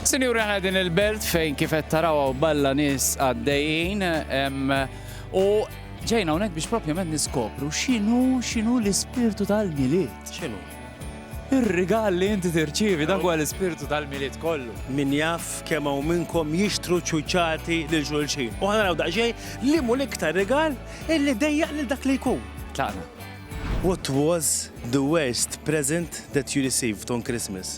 Sinjuri aħna din il-belt fejn kif qed taraw hawn balla nies għaddejjin u ġejna hawnhekk biex propjament niskopru x'inhu x'inhu l-ispirtu tal-milied. X'inhu? Ir-rigal li inti tirċievi dak huwa l-ispirtu tal-milied kollu. Min jaf kemm hawn minnkom jixtru ċuċati lil xulxin. U ħana naraw daqsxejn li mu l-iktar rigal illi dejjaq lil dak li jkun. Tlaqna. What was the worst present that you received on Christmas?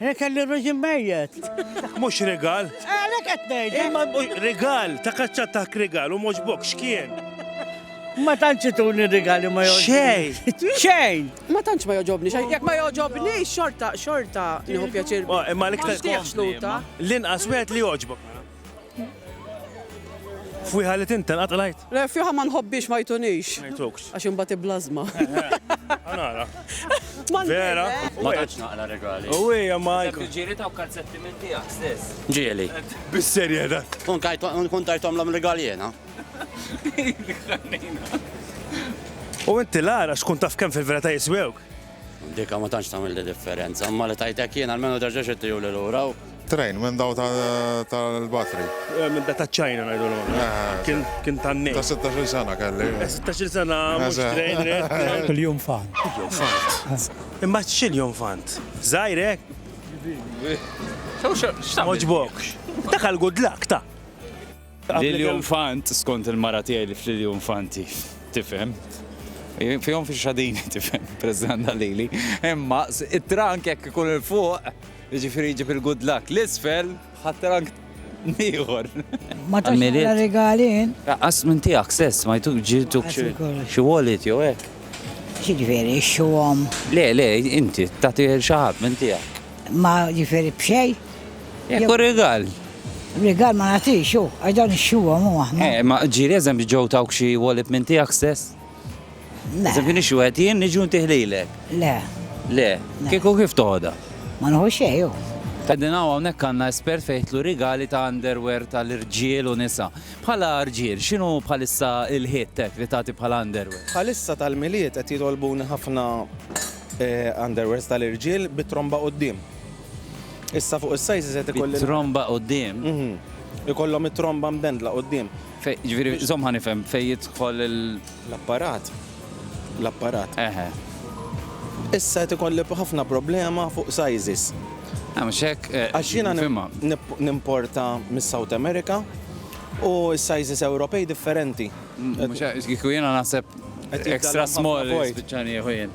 Jien kelli reġim mejjet. Mhux rigal. Għalhekk qed ngħid. Imma rigal, ta' kaċċat ta' rigal u mhux bok x'kien. Ma tantx ituni rigali ma joġobni. Xejn. Xejn. Ma tantx ma joġobni xejn. Jekk ma joġobni xorta xorta nieħu pjaċir. Imma l-iktar xluta. L-inqas wieħed li joġbok. Fwiħa li tinten qatt lajt? Le, fwiħa ma nħobbix ma jtunix. Ma jtukx. Għax imbagħad iblażma. Għanara. Vera? Ma tantx naqla regali. U hija ma jkun. Ġieli ta' kalzetti minn tiegħek stess. Ġieli. Bis-serje da. Kun kajt kun tajtom l regali jena. U inti lara xkun taf kemm fil-vera ta' jiswewk? Dika ma tantx tagħmilli differenza, imma li tgħid hekk jien almenu terġax ittihuli lura u. Train, minn dawn tal-batri. Minn dak taċ-China ngħidulhom aħna. Kien kien tan-nejl. Ta' sittax-il sena kelli. Sittax-il sena mhux train ridt. Il-junfant. Il-junfant. Imma x'il junfant? Żgħir hekk? Kbir. X'tagħmel? M'għoġbokx? Dak għall-good luck ta'. Lilju Nfant, skont il-mara tiegħi li f'Lilju Nfanti, tifhem. Fihom fi xadini, tifhem, President Lili. Imma it-trank jekk ikun il-fuq, ġifiri ġib il-good luck. L-isfel, ħat-trank nieħor. Ma ta' xogħol regalin. Qas minn tiegħek stess, ma jtuk ġibtu xi wallet jew hekk. Ġifieri, xuhom. Le, le, inti tagħti xi ħadd minn tiegħek. Ma ġifieri b'xejn. Jekk hu rigal. Rigal ma nagħtix hu, għax dawn ixxuhom hu aħna. Eh, ma ġieli eżempju ġew tawk xi wolib minn tiegħek stess? Le. Eżempju nixxu qed jien niġu ntih lilek. Le. Le. Kieku kif toħodha? Ma nħu xejn hu. Qegħdin hawn hawnhekk għandna espert fejn jitlu rigali ta' underwear tal-irġiel u nisa. Bħala rġiel, x'inhu bħalissa l-ħitt hekk li tagħti bħala underwear? Bħalissa tal-Milied qed jitolbuni ħafna underwears tal-irġiel bit-tromba quddiem. Issa fuq is-sizes qed ikolli. Tromba quddiem. Ikollhom it-tromba mbendla quddiem. Ġifieri, żomm ħa nifhem, fejn jidħol il. L-apparat. L-apparat. Eħe. Issa qed ikolli ħafna problema fuq sizes. Għam xek. Eh, Għax jiena nimporta mis-South America u s-sizes Ewropej differenti. Kiku jiena naħseb extra small. Bicċani jħujen.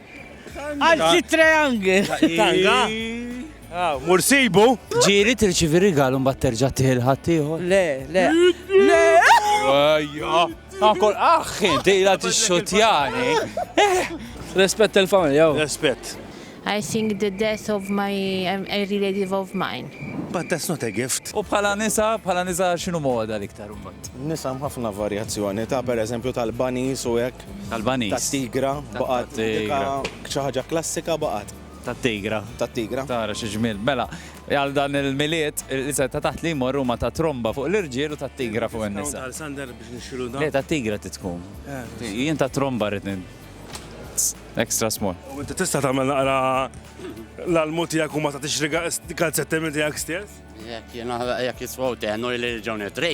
Għal sitt triangle. Tanga. Mur sibu. Ġiri tirċivi rigalu mbagħad terġa' tiħil ħaddieħor. Le, le. Le. Ejja. Akol aħħi, dejla tixxotjani. Respett il-familja. Respett. I think the death of my um, a relative of mine. But that's not a gift. U bħala nisa, bħala nisa xinu moda l-iktar umbat? Nisa ħafna varjazzjoni ta' per eżempju tal-banis u hekk. tal-ġuġ. Tal-baniż. Tat-tigra, baqgħet dika xi ħaġa klassika baqgħet. Tat-tigra. Tat-tigra. Tara xi ġmiel. Mela, għal dan il-Milied, l-isem ta' taħt li jmorru huma ta' tromba fuq l-irġiel u tat-tigra fuq in-nisa. Le, tat-tigra trid tkun. Jien ta' tromba rrid extra small. U inti tista' tagħmel naqra l-almu tiegħek u ma tagħtix riga kalzetti minn tiegħek stess? Jekk jien jekk jiswaw tenu li ġew nitri.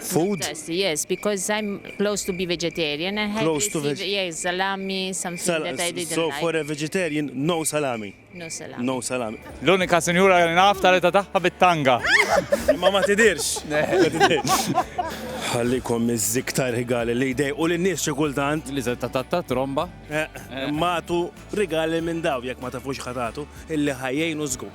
food? Fantastic, yes, because I'm close to be vegetarian and had close to veg- yeah, salami, something Sal- that I didn't so like. for a vegetarian, no salami. No salami. No salami. L-unika sinjura li naf tal-età tagħha bit-tanga. Ma ma tidirx. Ħallikom iż-ziktar rigali li jdej u l-nies xi kultant. Li se tatatta tromba. Eh, Matu rigali minn daw jekk ma tafux ħatatu illi ħajjejnu żgur.